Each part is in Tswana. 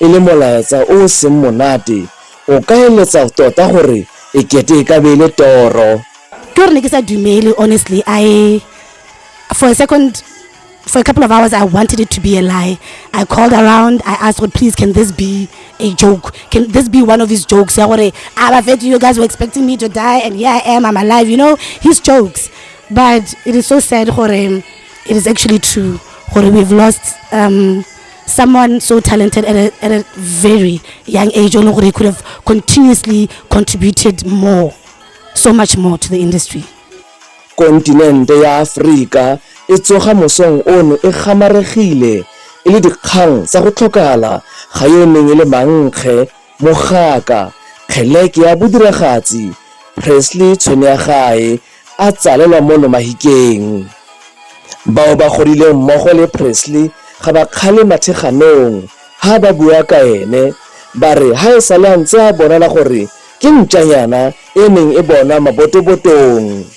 E le molaetsa o o seng monate, o ka eletsa tota gore e kete e ka be e le toro. Ke gore ne ke sa dumele honestly I for a second for a couple of hours I wanted it to be a lie. I called around I asked gore please can this be a joke? Can this be one of his jokes ya gore a ba fetse you guys were expecting me to die and here I am I'm alive you know his jokes. But it is so sad gore it is actually true gore we've lost um someone so talented at a, at a very young age o leng gore he could have continuously contributed more so much more to the industry kontinente ya aforika e tsoga mosong ono e gamaregile e le dikgang tsa go tlhokala ga yo neng e le mankge Mogaka, kgeleke ya bodiragatsi, Presley Tshwenyagae a tsalelwa mo Lomahikeng. Bao ba godileng mmogo le Presley ga ba kgale matheganong ha ba bua ka ene, ba re ha e sale a ntse a bonala gore ke ntšanyana e neng e bonwa mabotobotong.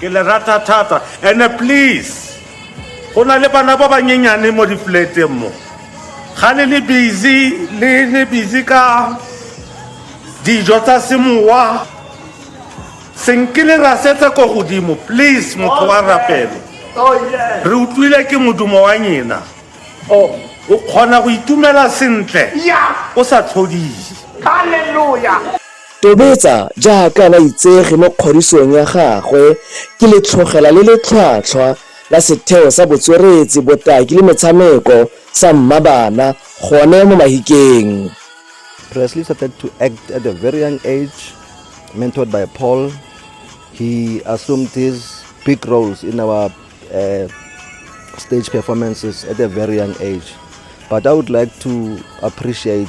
ke le rata thata ene please go na le bana ba banyenyane mo dipleteng mo ga le le busy le le busy ka dijo tsa semowa senke le rasetse ko godimo please motho wa rapelo re utlwile ke modumo wa nyena o kgona go itumela sentle o sa tlhodise Tobetsa jaaka baitsegi mo kgodisong ya gagwe ke letlhogela le le tlhwatlhwa la Setheo sa Botsweretsi, Botaki le Metshameko sa Mmabana gone mo Mahikeng. Presley started to act at a very young age, mentored by Paul. He assumed these big roles in our uh, stage performances at a very young age. But I would like to appreciate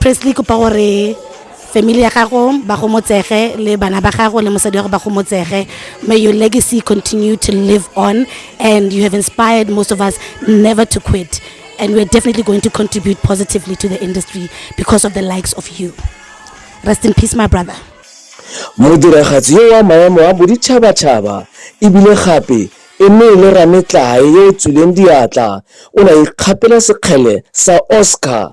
Presley kopa gore family ya gago ba gomotsege le bana ba gago le mosadi wa go ba gomotsege may your legacy continue to live on and you have inspired most of us never to quit and we're definitely going to contribute positively to the industry because of the likes of you rest in peace my brother modiragatsi yo wa maemo a boditšhabatšhaba ebile gape e ne e le rametlae yo o tswileng diatla o ne a ikgapela sekgele sa oscar